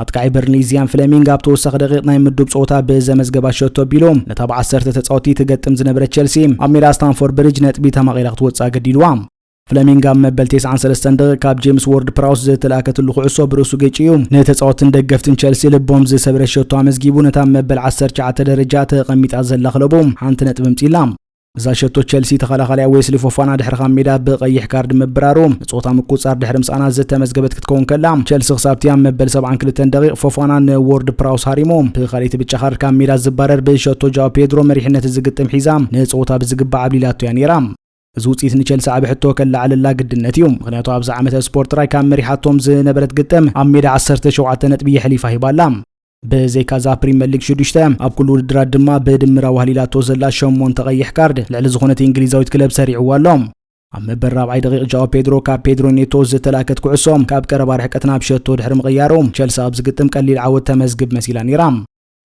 ኣጥቃዒ በርንሊ ዚያን ፍለሚንግ ኣብ ተወሳኺ ደቂቕ ናይ ምዱብ ጸወታ ብዘመዝገባ ሸቶ ኣቢሉ ነታ ብዓሰርተ ተጻወቲ ትገጥም ዝነበረ ቸልሲ ኣብ ሜዳ ስታንፎርድ ብሪጅ ነጥቢ ተማቒላ ክትወጽእ ኣገዲድዋ ፍለሚንግ ኣብ መበል 93 ደቂቕ ካብ ጄምስ ዎርድ ፕራውስ ዝተላእከትሉ ኩዕሶ ብርእሱ ገጭዩ ንተጻወትን ደገፍትን ቸልሲ ልቦም ዝሰብረ ሸቶ ኣመዝጊቡ ነታ መበል 19 ደረጃ ተቐሚጣ ዘላ ክለቡ ሓንቲ ነጥቢ ምጺላ እዛ ሸቶ ቸልሲ ተኸላኻሊያ ዌስሊ ፎፋና ድሕሪ ካብ ሜዳ ብቐይሕ ካርድ ምብራሩ ንፆታ ምቁፅፃር ድሕሪ ምስኣና ዝተመዝገበት ክትከውን ከላ ቸልሲ ክሳብቲ ኣብ መበል 72 ደቂቕ ፎፋና ንዎርድ ፕራውስ ሃሪሙ ብካልይቲ ብጫ ካርድ ካብ ሜዳ ዝባረር ብሸቶ ጃው ፔድሮ መሪሕነት እዚ ግጥም ሒዛ ንፆታ ብዝግባእ ዓብሊላቶ እያ ነይራ እዚ ውፅኢት ንቸልሲ ዓብ ሕቶ ከለዓለላ ግድነት እዩ ምክንያቱ ኣብዚ ዓመተ ስፖርት ጥራይ ካብ መሪሓቶም ዝነበረት ግጥም ኣብ ሜዳ 17 ነጥቢ የሕሊፋ ሂባላ ብዘይካዛ ፕሪመር ሊግ ሽዱሽተ ኣብ ኩሉ ውድድራት ድማ ብድምር ኣዋህሊላቶ ዘላ ሸሞንተ ቀይሕ ካርድ ልዕሊ ዝኾነት እንግሊዛዊት ክለብ ሰሪዕዋ ኣሎ ኣብ መበል ራብዓይ ደቂቕ ጃኦ ፔድሮ ካብ ፔድሮ ኔቶ ዝተላከት ኩዕሶ ካብ ቀረባ ርሕቀት ናብ ሸቶ ድሕሪ ምቕያሩ ቸልሲ ኣብ ዝግጥም ቀሊል ዓወት ተመዝግብ መሲላ ነይራ።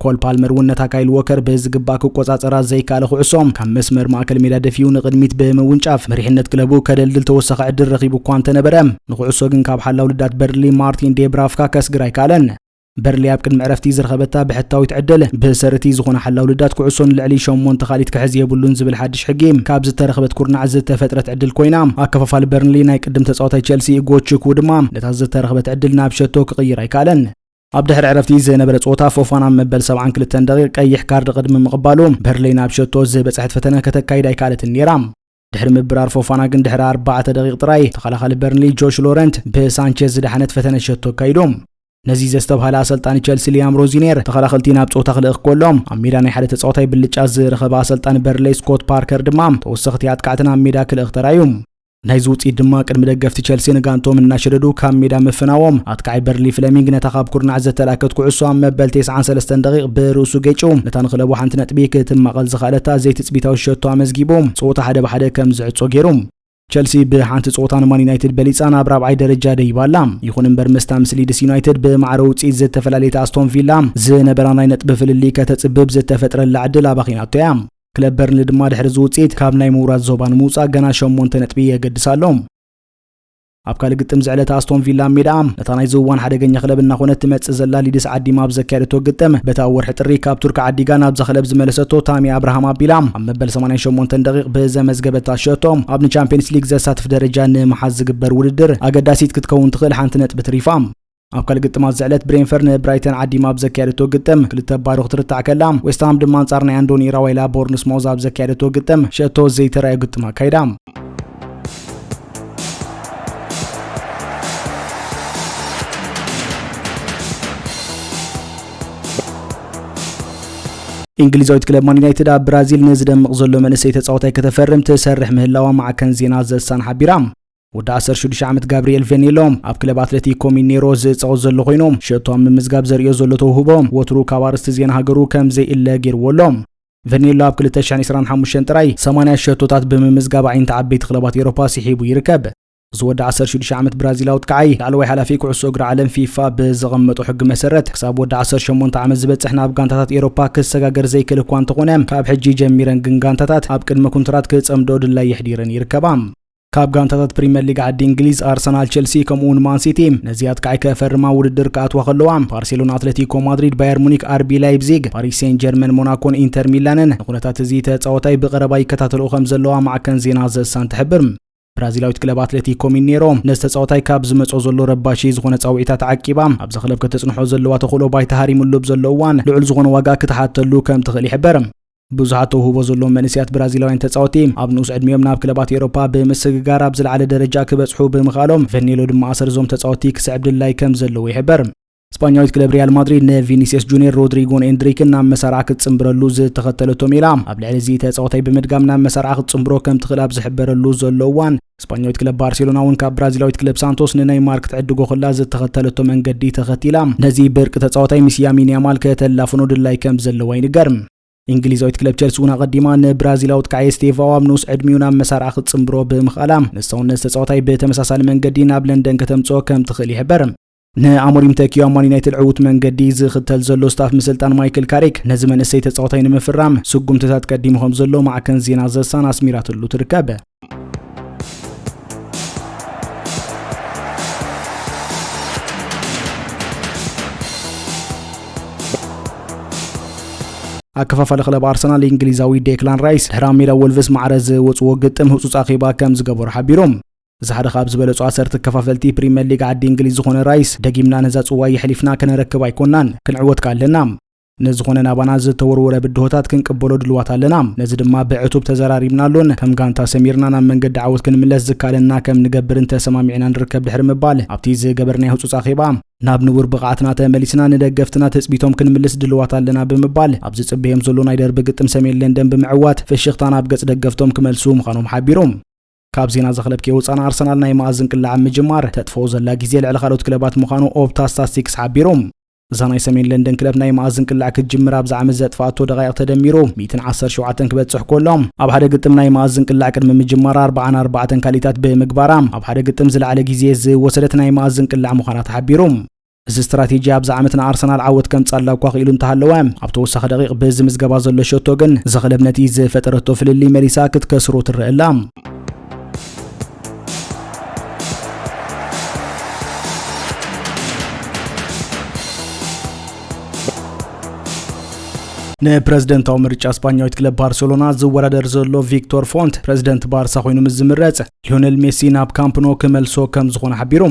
ኮል ፓልመር እውን ነታ ካይል ዎከር ብዝግባእ ክቆጻጸራ ዘይከኣለ ኩዕሶ ካብ መስመር ማእከል ሜዳ ደፊኡ ንቕድሚት ብምውንጫፍ መሪሕነት ክለቡ ከደልድል ተወሳኺ ዕድል ረኺቡ እኳ እንተነበረ ንኩዕሶ ግን ካብ ሓላው ልዳት በርሊ ማርቲን ዴብራፍካ ከስግር ኣይከኣለን። በርሊ ኣብ ቅድሚ ዕረፍቲ ዝረኸበታ ብሕታዊት ዕደለ ብሰርቲ ዝኾነ ሓላው ልዳት ኩዕሶ ንልዕሊ ሸሞንተ ካሊት ክሕዝ የብሉን ዝብል ሓድሽ ሕጊ ካብ ዝተረኸበት ኩርናዕ ዝተፈጥረት ዕድል ኮይና ኣከፋፋሊ በርንሊ ናይ ቅድም ተጻዋታይ ቸልሲ ጎችኩ ድማ ነታ ዝተረኸበት ዕድል ናብ ሸቶ ክቕይር ኣይከኣለን። ኣብ ድሕሪ ዕረፍቲ ዝነበረ ጾታ ፎፋና ኣብ መበል 72 ደቂቕ ቀይሕ ካርድ ቅድሚ ምቕባሉ በርለይ ናብ ሸቶ ዝበጽሐት ፈተነ ከተካይድ ኣይከኣለትን ነይራ። ድሕሪ ምብራር ፎፋና ግን ድሕሪ ኣርባዕተ ደቂቕ ጥራይ ተኸላኻሊ በርንሊ ጆሽ ሎረንት ብሳንቸዝ ዝደሓነት ፈተነ ሸቶ ኣካይዶም ነዚ ዘስተብሃለ ኣሰልጣኒ ቸልሲ ሊያም ሮዚኔር ተኸላኸልቲ ናብ ፆታ ክልእኽ ከሎም ኣብ ሜዳ ናይ ሓደ ተፃዋታይ ብልጫ ዝረኸበ ኣሰልጣኒ በርንለይ ስኮት ፓርከር ድማ ተወሰኽቲ ኣጥቃዕቲ ናብ ሜዳ ክልእኽ ተራዩ ናይዚ ውፅኢት ድማ ቅድሚ ደገፍቲ ቸልሲ ንጋንቶም እናሸደዱ ካብ ሜዳ ምፍናዎም ኣጥቃዓይ በርሊ ፍለሚንግ ነታ ካብ ኩርናዕ ዘተላከት ኩዕሶ ኣብ መበል 93 ደቂቕ ብርእሱ ገጭው ነታ ንክለቡ ሓንቲ ነጥቢ ክትማቐል ዝኸኣለታ ትጽቢታዊ ሸቶ ኣመዝጊቡ፣ ጸወታ ሓደ ብ ሓደ ከም ዝዕጾ ገይሩ። ቸልሲ ብሓንቲ ጸወታ ንማን ዩናይትድ በሊጻ ናብ ራብዓይ ደረጃ ደይባ ኣላ። ይኹን እምበር ምስታ ምስ ሊድስ ዩናይትድ ብማዕረ ውጽኢት ዝተፈላለየት ኣስቶን ቪላ፣ ዝነበራ ናይ ነጥቢ ፍልልይ ከተጽብብ ዝተፈጥረላ ዕድል ኣባኺናቶ እያ። ክለብ በርንሊ ድማ ድሕሪ እዚ ውጽኢት ካብ ናይ ምውራድ ዞባ ንምውጻእ ገና ሸሞንተ ነጥቢ የገድሳ ኣሎ። ኣብ ካልእ ግጥም ዝዕለተ ኣስቶን ቪላ ኣብ ሜዳኣ ነታ ናይ ዝዋን ሓደገኛ ክለብ እናኾነት ትመጽእ ዘላ ሊድስ ዓዲማ ኣብ ዘካየደቶ ግጥም በቲ ኣብ ወርሒ ጥሪ ካብ ቱርኪ ዓዲጋ ናብዛ ክለብ ዝመለሰቶ ታሚ ኣብርሃም ኣቢላ ኣብ መበል 88 ደቂቕ ብዘመዝገበታ ሸቶ ኣብ ንቻምፒየንስ ሊግ ዘሳትፍ ደረጃ ንምሓዝ ዝግበር ውድድር ኣገዳሲት ክትከውን ትኽእል ሓንቲ ነጥቢ ትሪፋ። ኣብ ካልእ ግጥማት ዝዕለት ብሬንፈር ንብራይተን ዓዲማ ኣብ ዘካየደቶ ግጥም ክልተ ባዶ ክትርታዕ ከላ ዌስትሃም ድማ ኣንጻር ናይ ኣንዶኒ ራዋይላ ቦርንስ ሞዝ ኣብ ዘካየደቶ ግጥም ሸቶ ዘይተራእዮ ግጥም ኣካይዳ እንግሊዛዊት ክለብ ማን ዩናይትድ ኣብ ብራዚል ንዝደምቕ ዘሎ መንእሰይ ተጻዋታይ ከተፈርም ትሰርሕ ምህላዋ ማዕከን ዜና ዘሳን ሓቢራ ወዲ 16 ዓመት ጋብርኤል ቬኔሎ ኣብ ክለብ ኣትለቲኮ ሚኔሮ ዝፃወት ዘሎ ኮይኑ ሸቶ ኣብ ምምዝጋብ ዘርእዮ ዘሎ ተውህቦ ወትሩ ካብ ኣርስቲ ዜና ሃገሩ ከም ዘይእለ ገይርዎ ኣሎ ቬኔሎ ኣብ 2025 ጥራይ 80 ሸቶታት ብምምዝጋብ ኣዒንቲ ዓበይቲ ክለባት ኤሮፓ ስሒቡ ይርከብ እዚ ወዲ 16 ዓመት ብራዚላዊ ጥቃዓይ ላዕለዋይ ሓላፊ ኩዕሶ እግሪ ዓለም ፊፋ ብዘቐመጦ ሕጊ መሰረት ክሳብ ወዲ 18 ዓመት ዝበፅሕ ናብ ጋንታታት ኤሮፓ ክሰጋገር ዘይክእል እኳ እንተኾነ ካብ ሕጂ ጀሚረን ግን ጋንታታት ኣብ ቅድመ ኩንትራት ክፀምዶ ድላይ የሕዲረን ይርከባ ካብ ጋንታታት ፕሪምየር ሊግ ዓዲ እንግሊዝ ኣርሰናል፣ ቸልሲ ከምኡውን ማንሲቲ ነዚ ኣጥቃዒ ከፈርማ ውድድር ክኣትዋ ከለዋ ባርሴሎና፣ ኣትለቲኮ ማድሪድ፣ ባየር ሙኒክ፣ ኣርቢ ላይፕዚግ፣ ፓሪስ ሴን ጀርመን፣ ሞናኮን ኢንተር ሚላንን ንኩነታት እዚ ተጻወታይ ብቀረባ ይከታተልኡ ከም ዘለዋ ማዕከን ዜና ዘሳን ትሕብር። ብራዚላዊት ክለብ ኣትሌቲኮ ሚኔሮ ነዚ ተጻወታይ ካብ ዝመጾ ዘሎ ረባሺ ዝኾነ ጻውዒታት ዓቂባ ኣብዚ ክለብ ከተጽንሖ ዘለዋ ተኽእሎ ባይታ ሃሪሙሉ ብዘሎ እዋን ልዑል ዝኾነ ዋጋ ክትሓተሉ ከም ትኽእል ይሕበር። ብዙሓት ተውህቦ ዘለዎም መንእሰያት ብራዚላውያን ተጻወቲ ኣብ ንኡስ ዕድሚኦም ናብ ክለባት ኤውሮፓ ብምስግጋር ኣብ ዝለዓለ ደረጃ ክበጽሑ ብምኽኣሎም ቨኔሎ ድማ ኣሰር እዞም ተጻወቲ ክስዕብ ድላይ ከም ዘለዎ ይሕበር። ስጳኛዊት ክለብ ሪያል ማድሪድ ንቪኒስየስ ጁኒየር፣ ሮድሪጎን ኤንድሪክን ናብ መሳርዓ ክትጽምብረሉ ዝተኸተለቶ ሜላ ኣብ ልዕሊ እዚ ተጻዋታይ ብምድጋም ናብ መሳርዓ ክትጽምብሮ ከም ትኽእል ኣብ ዝሕበረሉ ዘሎ እዋን ስጳኛዊት ክለብ ባርሴሎና እውን ካብ ብራዚላዊት ክለብ ሳንቶስ ንነይማር ክትዕድጎ ከላ ዝተኸተለቶ መንገዲ ተኸቲላ ነዚ ብርቂ ተጻዋታይ ምስ ያሚን ያማል ከተላፍኖ ድላይ ከም ዘለዋ ይንገር እንግሊዛዊት ክለብ ቸልሲ እውን ኣቐዲማ ንብራዚላዊ ጥቃዒ ስቴቫኦ ኣብ ንኡስ ዕድሚኡ ናብ መሳርዓ ክትጽምብሮ ብምኽኣላ ንሳውን ነዚ ተጻዋታይ ብተመሳሳሊ መንገዲ ናብ ለንደን ከተምጽኦ ከም ትኽእል ይሕበር ንኣሞሪም ተኪዩ ኣብ ማን ዩናይትድ ዕዉት መንገዲ ዝኽተል ዘሎ ስታፍ ምስልጣን ማይክል ካሪክ ነዚ መንእሰይ ተጻዋታይ ንምፍራም ስጉምትታት ቀዲሙ ከም ዘሎ ማዕከን ዜና ዘሳን ኣስሚራትሉ ትርከብ ኣከፋፋሊ ክለብ ኣርሰናል እንግሊዛዊ ዴክላን ራይስ ድሕሪ ኣብ ሜዳ ወልቭስ ማዕረ ዝወፅዎ ግጥም ህፁፅ ኣኼባ ከም ዝገበሩ ሓቢሮም እዚ ሓደ ካብ ዝበለጹ ኣሰርቲ ኣከፋፈልቲ ፕሪመር ሊግ ዓዲ እንግሊዝ ዝኾነ ራይስ፣ ደጊምና ነዛ ጽዋይ የሕሊፍና ከነረክብ ኣይኮናን፣ ክንዕወት ከኣ ኣለና። ንዝኾነ ናባና ዝተወርወረ ብድሆታት ክንቅበሎ ድልዋት ኣለና፣ ነዚ ድማ ብዕቱብ ተዘራሪብናሉን ከም ጋንታ ሰሚርና ናብ መንገዲ ዓወት ክንምለስ ዝከኣለና ከም ንገብርን ተሰማሚዕና ንርከብ ድሕሪ ምባል ኣብቲ ዝገበርናዮ ህጹጽ ኣኼባ ናብ ንቡር ብቕዓትና ተመሊስና ንደገፍትና ትጽቢቶም ክንምልስ ድልዋት ኣለና ብምባል ኣብ ዝጽበዮም ዘሎ ናይ ደርቢ ግጥም ሰሜን ለንደን ብምዕዋት ፍሽኽታ ናብ ገጽ ደገፍቶም ክመልሱ ምዃኖም ሓቢሮም። ካብ ዜና እዚ ክለብ ከይወፃና ኣርሰናል ናይ መኣዝን ቅላዕ ኣብ ምጅማር ተጥፈኦ ዘላ ግዜ ልዕሊ ካልኦት ክለባት ምዃኑ ኦፕታ ስታስቲክስ ሓቢሩ። እዛ ናይ ሰሜን ለንደን ክለብ ናይ መኣዝን ቅላዕ ክትጅምር ኣብዚ ዓመት ዘጥፍኣቶ ደቓይቕ ተደሚሩ 117 ክበጽሕ ኮሎ ኣብ ሓደ ግጥም ናይ መኣዝን ቅላዕ ቅድሚ ምጅማራ 44 ካሊታት ብምግባራ ኣብ ሓደ ግጥም ዝለዓለ ግዜ ዝወሰደት ናይ መኣዝን ቅላዕ ምዃና ተሓቢሩ። እዚ ስትራቴጂ ኣብዚ ዓመት ንኣርሰናል ዓወት ከምጻላ እኳ ክኢሉ እንተሃለወ፣ ኣብ ተወሳኺ ደቒቕ ብዝምዝገባ ዘሎ ሸቶ ግን እዛ ክለብ ነቲ ዝፈጠረቶ ፍልልይ መሊሳ ክትከስሮ ትረአ ኣላ። ንፕረዚደንታዊ ምርጫ ስፓኛዊት ክለብ ባርሴሎና ዝወዳደር ዘሎ ቪክቶር ፎንት ፕረዚደንት ባርሳ ኮይኑ ምስ ዝምረጽ ሊዮነል ሜሲ ናብ ካምፕኖ ክመልሶ ከም ዝኾነ ሓቢሩ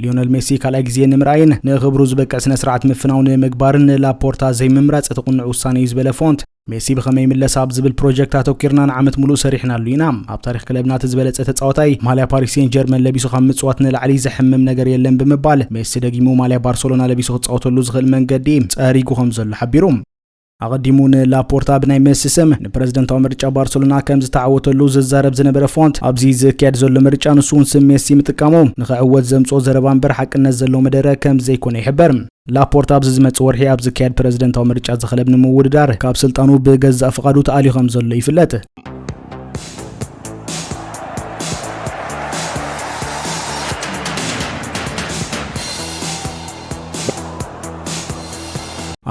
ሊዮነል ሜሲ ካልኣይ ግዜ ንምርኣይን ንኽብሩ ዝበቅዕ ስነ ስርዓት ምፍናው ንምግባርን ንላፖርታ ዘይምምራጽ እቲ ቁኑዕ ውሳነ እዩ ዝበለ ፎንት ሜሲ ብኸመይ ይምለስ ኣብ ዝብል ፕሮጀክት ኣተኪርና ንዓመት ሙሉእ ሰሪሕናሉ ኢና ኣብ ታሪክ ክለብና እቲ ዝበለፀ ተፃዋታይ ማልያ ፓሪስ ሴን ጀርመን ለቢሱ ካብ ምፅዋት ንላዕሊ ዘሕምም ነገር የለን ብምባል ሜሲ ደጊሙ ማልያ ባርሰሎና ለቢሱ ክፃወተሉ ዝኽእል መንገዲ ፀሪጉ ከም ዘሎ ሓቢሩ ኣቐዲሙ ንላፖርታ ብናይ መሲ ስም ንፕረዚደንታዊ ምርጫ ባርሰሎና ከም ዝተዓወተሉ ዝዛረብ ዝነበረ ፎንት ኣብዚ ዝካየድ ዘሎ ምርጫ ንሱ እውን ስም ሜሲ ምጥቃሙ ንክዕወት ዘምፅኦ ዘረባ እምበር ሓቅነት ዘለዎ መደረ ከም ዘይኮነ ይሕበር። ላፖርታ ኣብዚ ዝመፅእ ወርሒ ኣብ ዝካየድ ፕረዚደንታዊ ምርጫ ዝክለብ ንምውድዳር ካብ ስልጣኑ ብገዛእ ፍቓዱ ተኣልዩ ከም ዘሎ ይፍለጥ።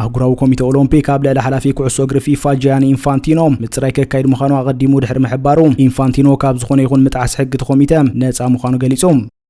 ኣህጉራዊ ኮሚተ ኦሎምፒክ ኣብ ልዕሊ ሓላፊ ኩዕሶ እግሪ ፊፋ ጃያኒ ኢንፋንቲኖ ምፅራይ ከካይድ ምዃኑ ኣቐዲሙ ድሕሪ ምሕባሩ ኢንፋንቲኖ ካብ ዝኾነ ይኹን ምጥዓስ ሕጊ እቲ ኮሚተ ነፃ ምዃኑ ገሊፁ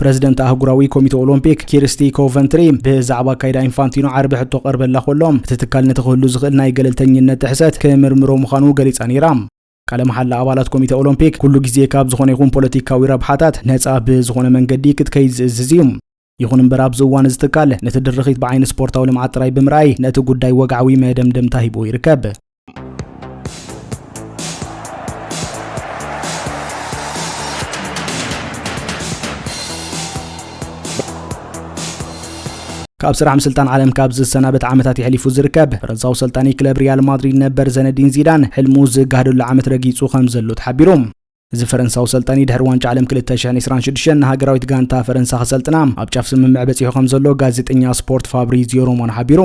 ፕረዚደንት ኣህጉራዊ ኮሚተ ኦሎምፒክ ኪርስቲ ኮቨንትሪ ብዛዕባ ኣካይዳ ኢንፋንቲኖ ዓርቢ ሕቶ ቀርበላ ከሎ እቲ ትካል ነቲ ክህሉ ዝኽእል ናይ ገለልተኝነት ጥሕሰት ክምርምሮ ምዃኑ ገሊጻ ነይራ። ቃለ መሓላ ኣባላት ኮሚተ ኦሎምፒክ ኩሉ ግዜ ካብ ዝኾነ ይኹን ፖለቲካዊ ረብሓታት ነጻ ብዝኾነ መንገዲ ክትከይድ ዝእዝዝ እዩ። ይኹን እምበር ኣብዚ እዋን እዚ ትካል ነቲ ድርኺት ብዓይኒ ስፖርታዊ ልምዓት ጥራይ ብምርኣይ ነቲ ጉዳይ ወግዓዊ መደምደምታ ሂብዎ ይርከብ። ካብ ስራሕ ምስልጣን ዓለም ካብ ዝሰናበት ዓመታት የሕሊፉ ዝርከብ ፈረንሳዊ ሰልጣኒ ክለብ ሪያል ማድሪድ ነበር ዘነዲን ዚዳን ሕልሙ ዝጋህደሉ ዓመት ረጊጹ ከም ዘሎ ተሓቢሩ እዚ ፈረንሳዊ ሰልጣኒ ድሕሪ ዋንጫ ዓለም 226 ንሃገራዊት ጋንታ ፈረንሳ ክሰልጥና ኣብ ጫፍ ስምምዕ በፂሑ ከም ዘሎ ጋዜጠኛ ስፖርት ፋብሪዚዮ ሮማኖ ሓቢሩ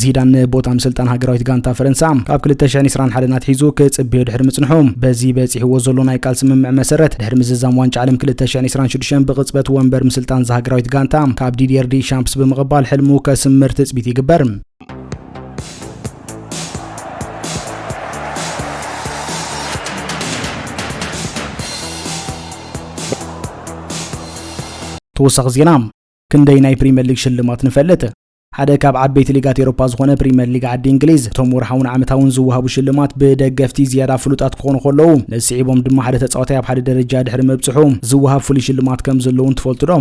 ዚዳን ንቦታ ምስልጣን ሃገራዊት ጋንታ ፈረንሳ ካብ 2021 ናትሒዙ ክጽበዮ ድሕሪ ምጽንሑ በዚ በጺሕዎ ዘሎ ናይ ቃል ስምምዕ መሰረት ድሕሪ ምዝዛም ዋንጫ ዓለም 2026 ብቕጽበት ወንበር ምስልጣን ዝሃገራዊት ጋንታ ካብ ዲዲየር ዲ ሻምፕስ ብምቕባል ሕልሙ ከስምር ትጽቢት ይግበር። ተወሳኺ ዜና ክንደይ ናይ ፕሪምየር ሊግ ሽልማት ንፈልጥ? ሓደ ካብ ዓበይቲ ሊጋት ኤሮፓ ዝኾነ ፕሪምየር ሊግ ዓዲ እንግሊዝ እቶም ወርሓውን ዓመታውን ዝወሃቡ ሽልማት ብደገፍቲ ዝያዳ ፍሉጣት ክኾኑ ከለዉ ነስዒቦም ድማ ሓደ ተፃዋታይ ኣብ ሓደ ደረጃ ድሕሪ ምብፅሑ ዝወሃብ ፍሉይ ሽልማት ከም ዘለውን ትፈልጡ ዶ?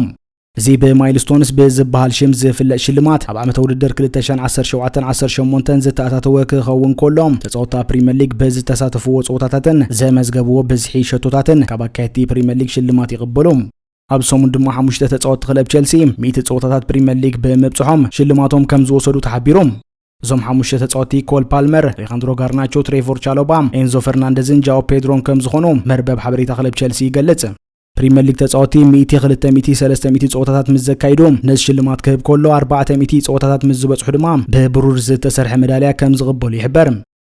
እዚ ብማይልስቶንስ ብዝበሃል ሽም ዝፍለጥ ሽልማት ኣብ ዓመተ ውድድር 2017 18 ዝተኣታተወ ክኸውን ከሎ ተፃወታ ፕሪምየር ሊግ ብዝተሳተፍዎ ፀወታታትን ዘመዝገብዎ ብዝሒ ሸቶታትን ካብ ኣካየድቲ ፕሪምየር ሊግ ሽልማት ይቕበሉ። ኣብዚ ሰሙን ድማ ሓሙሽተ ተጻወትቲ ክለብ ቸልሲ ሚእቲ ጸወታታት ፕሪምየር ሊግ ብምብጽሖም ሽልማቶም ከም ዝወሰዱ ተሓቢሩ። እዞም ሓሙሽተ ተጻወቲ ኮል ፓልመር፣ ሌኻንድሮ ጋርናቾ፣ ትሬቮር ቻሎባ፣ ኤንዞ ፈርናንደዝን ጃኦ ፔድሮን ከም ዝኾኑ መርበብ ሓበሬታ ክለብ ቸልሲ ይገልጽ። ፕሪምየር ሊግ ተጻወቲ 100 200 300 ጸወታታት ምስ ዘካይዱ ነዚ ሽልማት ክህብ ከሎ 400 ጸወታታት ምስ ዝበጽሑ ድማ ብብሩር ዝተሰርሐ መዳልያ ከም ዝቕበሉ ይሕበር።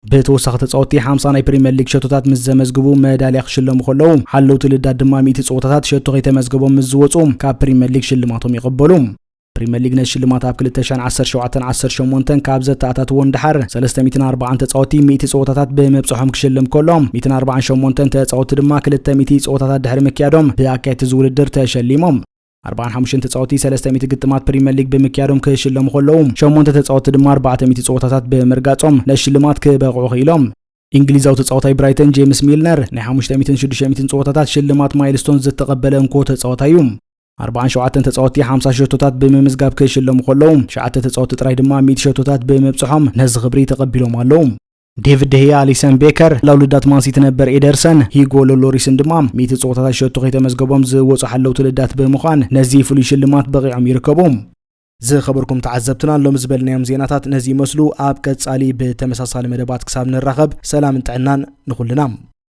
ብተወሳኺ ተፃወትቲ ሓምሳ ናይ ፕሪምየር ሊግ ሸቶታት ምስ ዘመዝግቡ መዳልያ ክሽለሙ ከለዉ ሓለውቲ ልዳት ድማ ሚእቲ ፀወታታት ሸቶ ከይተመዝገቦም ምስ ዝወፁ ካብ ፕሪምየር ሊግ ሽልማቶም ይቕበሉ። ፕሪምየር ሊግ ነዚ ሽልማት ኣብ 2017 18 ካብ ዘተኣታትዎ ንደሓር 340 ተፃወቲ 100 ፀወታታት ብምብፅሖም ክሽልም ከሎ 148 ተፃወቲ ድማ 200 ፀወታታት ድሕሪ ምክያዶም ብኣካየድቲ ዝውድድር ተሸሊሞም። ኣርብዓን ሓሙሽተን ተጻወቲ ሰለስተ ሚእቲ ግጥማት ፕሪምየር ሊግ ብምክያዶም ክሽለሙ ከለዉ፣ ሸሞንተ ተጻወቲ ድማ ኣርባዕተ ሚእቲ ጸወታታት ብምርጋጾም ንሽልማት ክበቕዑ ክኢሎም። እንግሊዛዊ ተጻዋታይ ብራይተን ጄምስ ሚልነር ናይ ሓሙሽተ ሚእትን ሽዱሽተ ሚእትን ጸወታታት ሽልማት ማይልስቶንስ ዝተቐበለ እንኮ ተጻዋታይ እዩ። ኣርብዓን ሸውዓተን ተጻወቲ ሓምሳ ሸቶታት ብምምዝጋብ ክሽለሙ ከለዉ፣ ሸዓተ ተጻወቲ ጥራይ ድማ ሚእቲ ሸቶታት ብምብጽሖም ነዚ ክብሪ ተቐቢሎም ኣለዉ። ዴቪድ ደህያ፣ ኣሊሰን ቤከር፣ ለውልዳት ማንሲቲ ነበር ኤደርሰን፣ ሂጎ ሎሎሪስን ድማ ሚእቲ ጸወታታት ሸቶ ከይተመዝገቦም ዝወጹ ሓለውቲ ልዳት ብምዃን ነዚ ፍሉይ ሽልማት በቒዖም ይርከቡ። ዝኸበርኩም ተዓዘብትና ሎሚ ዝበልናዮም ዜናታት ነዚ ይመስሉ። ኣብ ቀጻሊ ብተመሳሳሊ መደባት ክሳብ ንራኸብ ሰላምን ጥዕናን ንኹልና።